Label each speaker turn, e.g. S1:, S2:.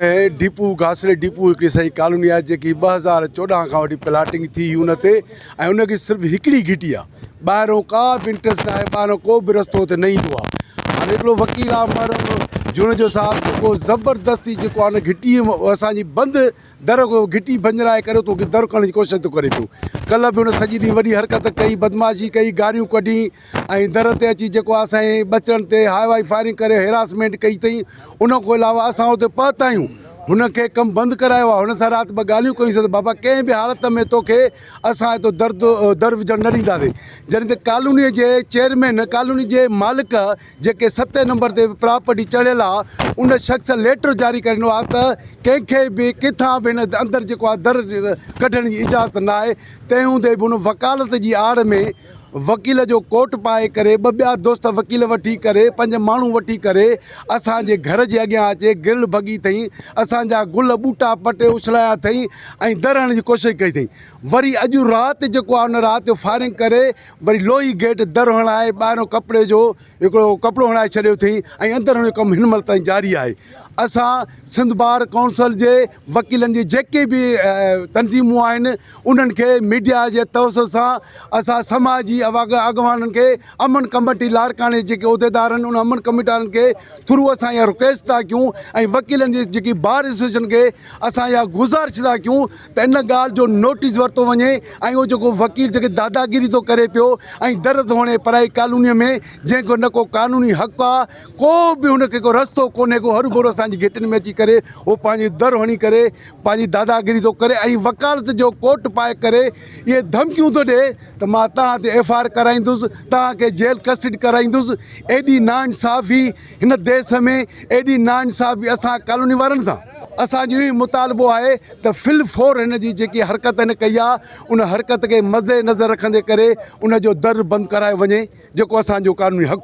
S1: هي depot گاسري depot هڪڙي سائي ڪالوني آهي جيڪي ٻه هزار چوڏهن کان وٺي پلاٽنگ ٿي هئي ان تي ۽ ان کي صرف هڪڙي گهٽي آهي ٻاهرون ڪا به انٽرس ناهي ٻاهرون ڪو به رستو اتي نه ايندو آهي هاڻي هڪڙو وڪيل آهي محرم جوڻيجو صاحب جيڪو زبردستي جيڪو آهي نه گهٽي اسانجي بند در گهٽي ڀڃرائي ڪري اتو در ڪرڻ جي ڪوشش ٿو ڪري پيو ڪلهه به ان سڄي ڏينهن وڏي حرڪت ڪئي بدمعاشي ڪئي گاريون ڪڍي ۽ در تي اچي جيڪو آهي سائين ٻچڙن تي هوائي فائرنگ ڪري هراسمينٽ ڪئي اٿئي ان کان علاوه اسان اتي پهتا آهيون هن کي ڪم بند ڪرايو آهي هن سان رات ٻه ڳالهيون ڪيون سين ته بابا ڪنهن به حالت ۾ توکي اسان هتو در در وجهڻ نه ڏينداسين جڏهن ته ڪالوني جي چيئرمين ڪالوني جي مالڪ جيڪي ستين نمبر تي پراپرٽي چڙهيل آهي ان شخص ليٽر جاري ڪري ڏنو آهي ته ڪنهن کي به ڪٿان به هن اندر جيڪو آهي در ڪڍڻ جي اجازت ناهي تنهن هوندي به هن وڪالت جي آڙ ۾ وڪيل جو ڪوٽ پائي ڪري ٻه ٻيا دوست وڪيل وٺي ڪري پنج ماڻهو وٺي ڪري اسان جي گهر جي اڳيان اچي گرل ڀڳي ٿئين اسان جا گل ٻوٽا پٽي اڇلايا ٿئين ۽ در هڻڻ جي ڪوشش ڪئي ٿئين وري اڄ رات جيڪو آهي ان رات جو فائرنگ ڪري وري لوهي گيٽ در هڻائي ٻاهريون ڪپڙي جو هڪڙو ڪپڙو هڻائي ڇڏيو ٿئين ۽ اندر هڻڻ جو ڪم هن مهل تائين جاري آهي اسان سنڌ بار ڪائونسل جي وڪيلن جي جيڪي به تنظيمون آهن انهن کي ميڊيا جي توسط سان اسان سماجي اڳواڻن کي امن ڪميٽي لاڙڪاڻي جيڪي عهديدار آهن ان امن ڪميٽارن کي ٿرو اسان اها رڪويسٽ ٿا ڪيون ۽ وڪيلن جي جيڪي بار ايسوسيئيشن کي اسان اها گذارش ٿا ڪيون ته ان ڳالهه جو نوٽيس ورتو وڃي ۽ اهو جيڪو وڪيل جيڪي داداگيري ٿو ڪري پيو ۽ در ڌوڻي پرائي ڪالوني ۾ جنهن کي نه ڪو قانوني حق آهي ڪو به هن کي ڪو رستو ڪونهي ڪو هرو ڀرو اسان جي گهٽين ۾ اچي ڪري هو پنهنجو در هڻي ڪري پنهنجي داداگيري ٿو ڪري ۽ وڪالت جو ڪوٽ پائي ڪري اهي ڌمڪيون ٿو ڏي ته مان توهان تي ايف آء آر ڪرائيندس توهان کي جيل ڪسٽڊ ڪرائيندس ايڏي نا انصافي هن ديس ۾ ايڏي نا انصافي اسان ڪالوني وارن سان اسان جو اهو مطالبو آهي ته في الفور هن جي جيڪي حرڪت هن ڪئي آهي ان حرڪت کي مد نظر رکندي ڪري ان جو در بند ڪرايو وڃي جيڪو اسان جو قانوني حق.